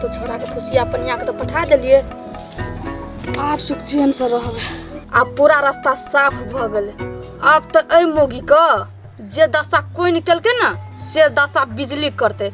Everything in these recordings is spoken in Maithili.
तो छोड़ा के खुशी अपन यहाँ के तो पठा दिलिए आप सुख चैन से रहबे आब पूरा रास्ता साफ भऽ गेलै आब तऽ एहि मोगी के जे दशा कोइ निकलकै ने से दशा बिजली करतै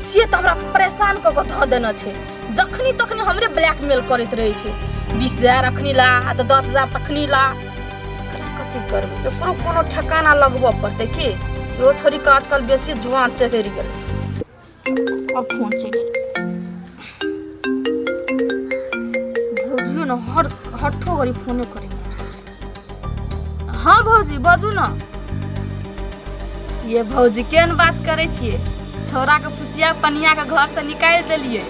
से तऽ हमरा परेशान कऽ कऽ धऽ देने छै जखनी तखनी हमरे ब्लैकमेल करैत रहै छै बीस हजार अखनी ला तऽ दस हजार तखनी ला एकरा कथी करबै एकरो कोनो ठेकाना लगबऽ पड़तै की इहो छोड़ि कऽ आजकल बेसी जुआन चढ़ि गेलै अब फोन चलि गेलै भौजियो ने हर हठो गरी फोने करे हाँ भौजी बाजू ना ये भौजी केन बात करे छिए छौरा के फुसिया पनिया के घर से निकाल देलिए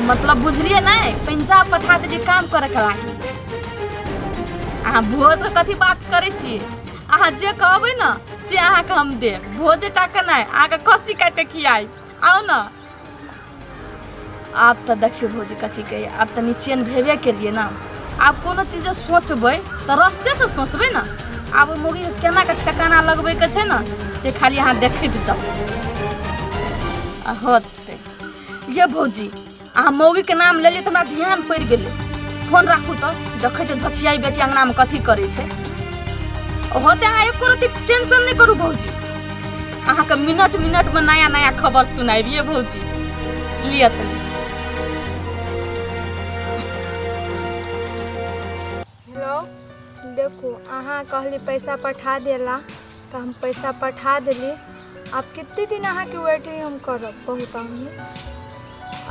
मतलब बुझलिए ना पंजाब पठा दे काम करे के लागी अहाँ भोज के कथी बात करे छिए अहाँ जे कहबे ना से अहाँ के हम देब भोजे टा के नहीं अहाँ के कसी काट के खियाई आउ न आब तऽ देखियौ भौजी कथी कहैए आब तऽ निचेन भेबे केलिए ने आब कोनो चीज जे सोचबै तऽ रस्तेसँ सोचबै ने आब ओहि मुर्गीके केनाके ठेकाना लगबैके छै ने से खाली अहाँ देखैत जाउ आ होतै ये भौजी अहाँ मौगीके नाम लेलियै तऽ हमरा ध्यान पड़ि गेलै फोन राखू तऽ देखै छियै धछियाई बेटी अङ्गनामे कथी करै छै होते अहाँ एको रति टेंशन नहि करू भौजी अहाँके मिनट मिनटमे नया नया खबर सुनाबिए भौजी लिअ तनी हेलो देखू अहाँ कहली पैसा पठा देला तऽ हम पैसा पठा देली आब कते दिन अहाँके वेटिंग हम करब बहुत अहमी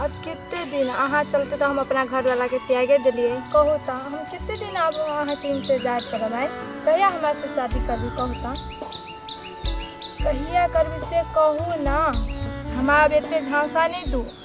आब कते दिन अहाँ चलते तऽ हम अपना घरवालाके त्यागे देलियै कहू तऽ हम कते दिन आब अहाँके इंतजार करब आइ कहिया हमरा से शादी करबी कहू तऽ कहिया करबी से कहू ना हमरा आब एते झांसा नहि दू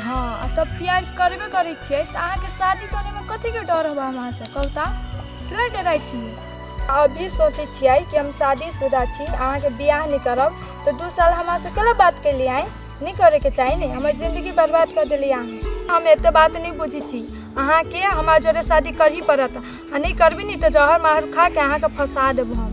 हाँ आ तब प्यार करबे करै छियै तऽ अहाँके शादी करैमे कथीके डर होबा हमरासँ कहू तऽ किला डराइ छियै अभी सोचै छियै कि हम शादीशुदा छी अहाँके बियाह नहि करब तऽ दू साल हमरासँ केला बात केलियै आँय नहि करैके चाही ने हमर जिन्दगी बर्बाद कऽ देलियै अहाँ हम एते बात नहि बुझै छी अहाँके हमरा जरे शादी करही पड़त आ नहि करबी ने तऽ जहर माहर खा के अहाँके फंसा देब हम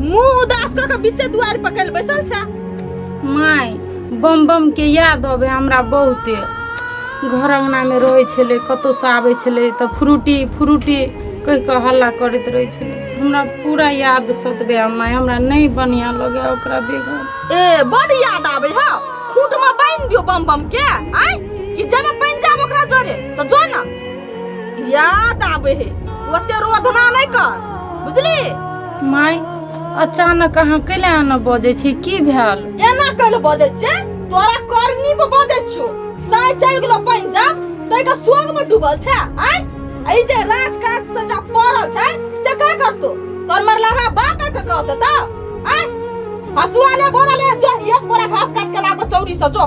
मुंह उदास क के बीचे दुआर पर कल बैसल छै माय बम बम के याद अबे हमरा बहुते घर अंगना में रहे छले कतो से आबे छले त फ्रूटी फ्रूटी कह के हल्ला करत रहे छले हमरा पूरा याद सतबे आ माय हमरा नहीं बढ़िया लगे ओकरा बेगर ए बड़ याद आबे ह खूट में बांध दियो बम बम के आय कि जब बन जाब ओकरा जरे तो जो ना याद आबे हे ओते रोधना नहीं कर बुझली माय अचानक अहाँ कैले आना बजै छी की भेल एना कैले बजै छे तोरा करनी पर बजै छो साय चल गेलो पंजाब तै का सोग में डूबल छे आय आई जे राज काज सबटा पड़ल छे से का करतो तोर मर लगा बाप के कहत त आय हसुआ ले बोरा ले जो एक बोरा घास काट के लाबो चौरी से जो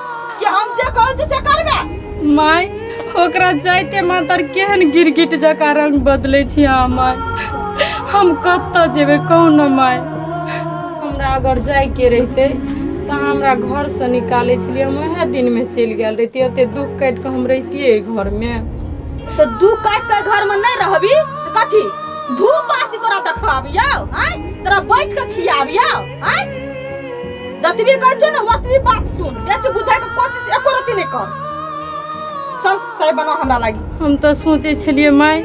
कि हम जे कहै छी से करबे माय ओकरा जाइते मातर केहन गिरगिट जकाँ रंग बदलै छी अहाँ माय हम कतऽ जेबै कहू ने माय हमरा अगर जाइके रहितै तऽ अहाँ हमरा घरसँ निकालै छलियै हम ओएह दिनमे चलि गेल रहितियै ओते दुख काटि कऽ हम रहितियै एहि घरमे तो दू काट के घर में नहीं रहबी तो कथी धूप बाती तोरा देखबाबियो हैं तोरा बैठ के खियाबियो हैं जतबी कहै छौ ने ओतबी बात सुन बेसी बुझै के कोशिश एको रति नै कर चल चाय बना हमरा लागी हम तऽ सोचै छलियै माय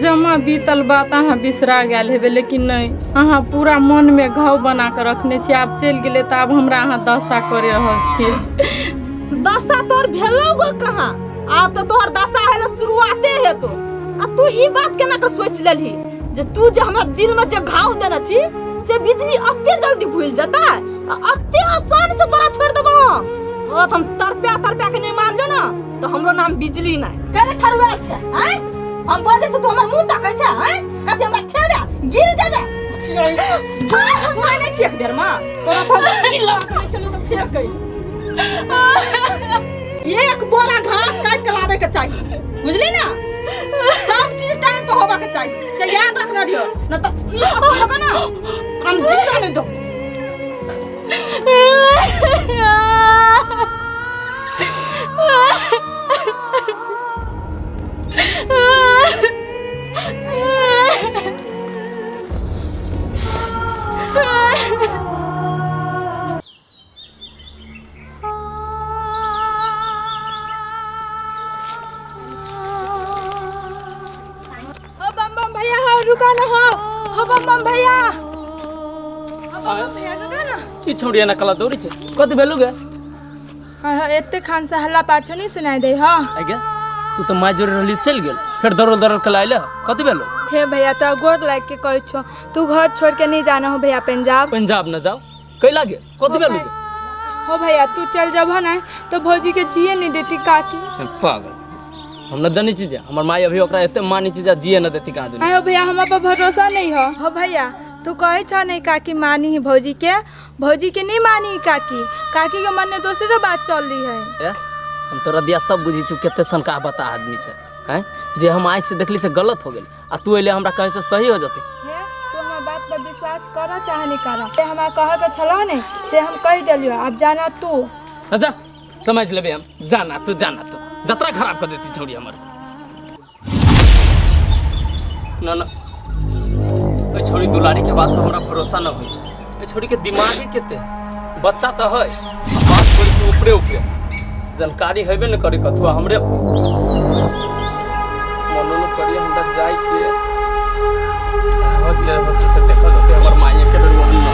जमा बीतल बात अहाँ बिसरा गेल हेबै लेकिन नहि अहाँ पूरा मनमे घाव बना कऽ रखने छी आब चलि गेलै तऽ आब हमरा अहाँ दशा करि रहल छी दशा तोर भेलौ गो कहाँ आब तऽ तोहर दशा हेलो शुरुआते हेतो आ तू ई बात केना के सोच लेलही जे तू जे हमरा दिल में जे घाव देने छी से बिजली अते जल्दी भूल जाता आ अते आसान से तोरा छोड़ देबो तोरा तो हम तरप्या तरप्या के नहीं मार लो ना तो हमरो नाम बिजली ना करे ठरवा छै हैं हम बोल दे तो हमर मुंह तकै छै हैं कते हमरा खेबे गिर जाबे सुनै नै छी एक बेर में तोरा तो हम ई लगा के चलो तो फेर कहि एक बोरा घास काट के लावे के चाहिए बुझली ना सब चीज टाइम पे होबा के चाहिए से याद रखना रियो न तो ई पकड़ के ना हम जीरो नहीं दो हो बम बम भैया हो रुका ना हो हो बम बम भैया हो बम बम भैया रुका ना ई छौड़िया ना कला दौड़ी छै कत भेलु गे हाँ हाँ एते खान से हल्ला पाछो नहीं सुनाई दे हाँ आगे तू तो माय जोरे रहली चल गेल फिर दौड़ दौड़ के लाइले कत भेलु हे भैया तो गोर लाग के कह छो तू घर छोड़ के नहीं जाना हो भैया पंजाब पंजाब न जाओ कैला के कथी भेल के हो भैया तू चल जब ना तो भौजी के जिए नहीं देती काकी पागल हम न जानी चीज हमर माई अभी ओकरा एते मानी चीज जिए न देती कहाँ दुनिया आयो भैया हम पर भरोसा नहीं हो हो भैया तू कहे छ नहीं काकी मानी ही भौजी के भौजी के नहीं मानी ही काकी काकी के मन में दूसरे बात चल रही है ए? हम तोरा दिया सब बुझी छी केते सनका बता आदमी छै हैं जे हम आँख से देखली से गलत हो गेल आ तू अइले हमरा कहीं से सही हो जते हे तू हमरा बात पर विश्वास कर चाहे नहीं कर से हमरा कहे के छलो ने से हम कह देलियो अब जाना तू अच्छा समझ लेबे हम जाना तू जाना तू जतरा खराब कर देती छौड़ी हमर ना ना ओइ छौड़ी दुलारी के बात पर हमरा भरोसा ना होई एहि छोरीके दिमागे केते बच्चा तऽ है बात करै छै ऊपरे ऊपरे जानकारी हेबे ने करे कथुआ हमरे मनो ने करिए हमरा जाय के बहुत जय भट्टी से देखल होते हमर माइए के बेर ओहन ना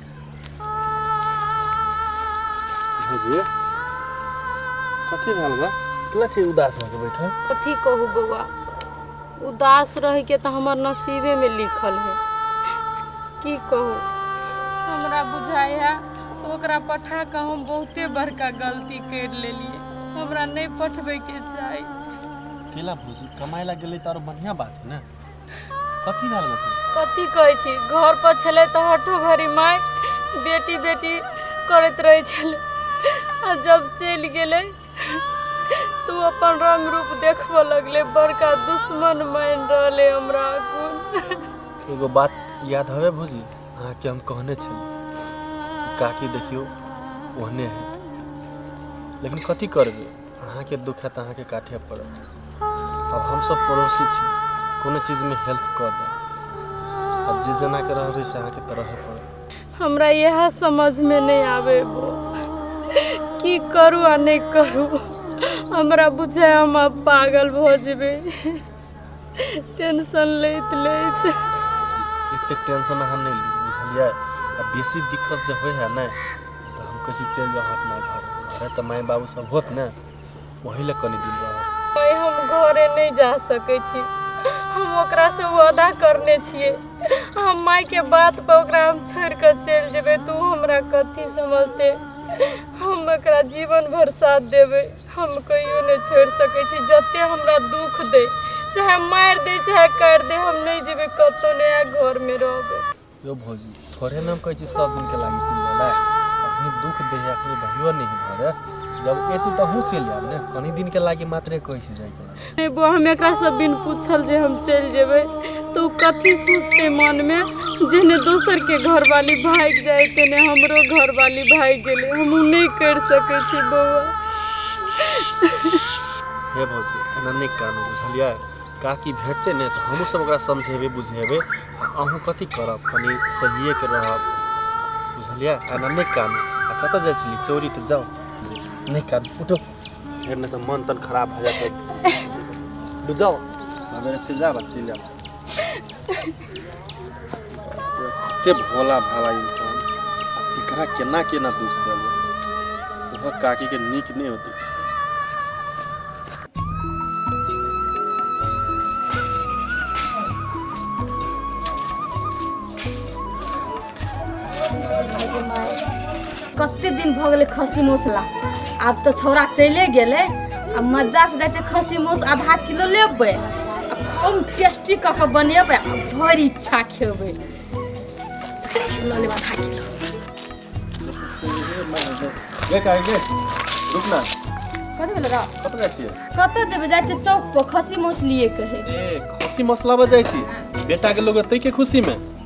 भौजी कथी भेल बा कितना चीज उदास होके बैठल कथी कहू बौआ उदास रह के तो हमार नसीबे में लिखल है की कहू हमरा बुझाय है ओकरा पठा के हम बहुते बड़का गलती कर लेलिए हमरा नहीं पठबे के चाही केला भौजी कमाए ला गेलै तऽ आओर बढ़िआँ बात है ने कथी भेल बस कथी कहै छी घर पर छलै तऽ हठो घड़ी माय बेटी बेटी करैत रहै छलै आ जब चलि गेलै तू अपन रंग रूप देखबऽ लगले बड़का दुश्मन मानि रहले हमरा अखन एगो बात याद हवे भौजी अहाँके हम कहने छलहुँ कि काकी देखियौ ओहने है लेकिन कथी करबै अहाँके दुख है तऽ अहाँके काटे पड़त अब हमसब पड़ोसी छी कोनो चीजमे हेल्प कऽ देब अब जे जेना के रहबै से अहाँके तऽ रहऽ पड़त हमरा यह समझ में नहीं आवे बो की करू आ नहीं करू हमरा बुझे हम अब पागल भो जेबे टेंशन लैत लैत एते टेंशन अहाँ नहीं ली बुझलिए आ बेसी दिक्कत जब होए है ना तो हम कैसे चल जाओ अपना घर घरे तो माय बाबू सब होत ना वही ले कनी दिन रहो भाई हम घरे नहीं जा सके छी हम ओकरा से वादा करने छिए हम माय के बात पर ओकरा हम छोड़ के चल जेबे तू हमरा कथी समझते हम ओकरा जीवन भर साथ देबे हम कहियो नहि छोड़ि सकै छी जते हमरा दुख दे चाहे मारि दे चाहे काटि दे हम नहि जेबै कतौ नहि आ घर में रहबै यो भौजी थोड़े नाम कहै छी सब दिन के लागे चल जाला अपनी दुख दे है अपनी भइयो नहीं घर जब एती त हूं चल जाब ने कनी दिन के लागे मात्रे कहै छी जाय के नहि बौ हम एकरासँ बिन पूछल जे हम चलि जेबै तऽ ओ कथी सोचतै मनमे जेहने दोसरके घरवाली भागि जाइ तेने हमरो घरवाली भागि गेलै हम ओ नहि करि सकै छी बौआ हे भौजी एना नहि कानू बुझलियै काकी भेटतै नहि तऽ हमहूँ सब ओकरा समझेबै बुझेबै आ अहूँ कथी करब कनि सहिएके रहब बुझलियै एना नहि कानू आ कतऽ जाइ छली चोरी तऽ जाउ नहि कानू उठो फिर नहीं तो मन तन खराब हो जाता है डूब जाओ अबे चिल जा बस चिल जा के भोला भाला इंसान एकरा केना केना दुख देबो तोहर काकी के नीक नहीं होती कते दिन भऽ गेलै खस्सी मौसला आब तऽ छौड़ा चले गेलै आ मजा से जाइ छै खस्सी मौस आधा किलो लेबै आ खूब टेस्टी कऽ के बनेबै आ भरि इच्छा खेबै जाइ छी लऽ लेब आधा किलो गे काहे गे रुक ना कथी भेलै रौ कतऽ जाइ छियै कतऽ जेबै जाइ छै चौक पर खस्सी मौस लिए कहे ए खसी मसलाबा जाइ छी बेटाके लोग एतै के खुशीमे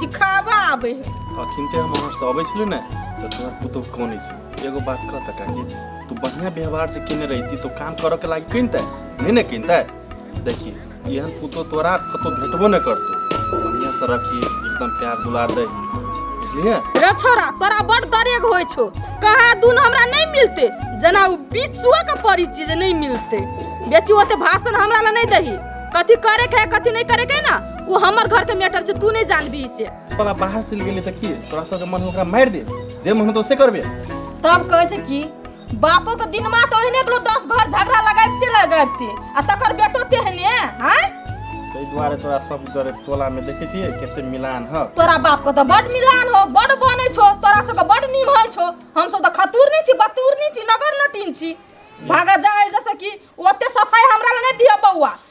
सिखाबा आबै है अखिन ते हम अहाँ सब छलु ने तो तोहर पुतोह कोनी छै एगो बात कह त काकी तू बढ़िया व्यवहार से केने रहती तो काम करऽ के लागी किनते नहीं ने किनते देखी एहन पुतोह तोरा कतो भेटबो न करतो बढ़िया से रखी एकदम प्यार दुलार दे बुझलिए रे छोरा तोरा बड़ दरेग होइ छौ कहा दून हमरा नहीं मिलते जना उ बिचुआ के पड़ी चीज नहीं मिलते बेची ओते भाषण हमरा ला नहीं दही कथी करे के है कथी नहीं करे के है ना वो हमर घर के मैटर से तू नहीं जानबी से पला बाहर चल गेले त की तोरा सब के मन ओकरा मार दे जे मन तो से करबे तब कहे छै कि बापो के दिन मा तो ओहने कलो दस घर झगड़ा लगाबते लगाबते आ तकर बेटो तेहने हां तै दुआरे तोरा सब डरे टोला में देखे छिए केते मिलान ह तोरा बाप के तो बड़ मिलान हो बड़ बने छो तोरा सब बड़ निमहल छो हम सब तो खतूर नहीं छी बतूर नहीं छी नगर नटीन छी भागा जाए जैसे कि ओते सफाई हमरा ले नहीं दिया बउआ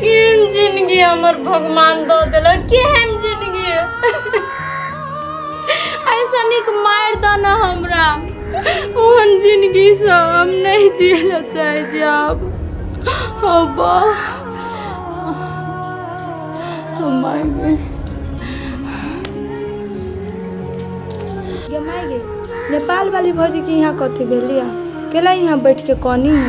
केहन जिंदगी हमर भगवान दऽ देलक केहन जिंदगी ऐसा निक मारि दऽ ने हमरा ओहन जिंदगीसँ हम नहि जिए लए चाहै छी आब हौ बा हम माय गे गे माय गे नेपाल वाली भौजी के यहाँ कथी भेलिया केला यहाँ बैठ के कनी है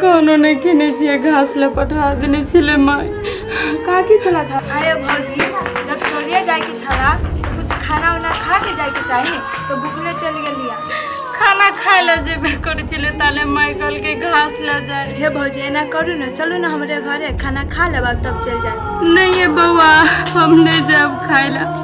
कोनो नहि खेने छियै घास लए पठा देने छलै माय कहाँ की छला था आया भौजी जब चलिए जाएके छला तो कुछ खाना उना खा के जाएके चाही तो भूखले चल गेलिया खाना खाय लए जेबे करै छलै ताले माय कहलकै घास लए जाय हे भौजी एना करू ने चलू ने हमरे घरे खाना खा लेब तब चल जाए नहीं ये बउआ हम नहीं जाब खाय लए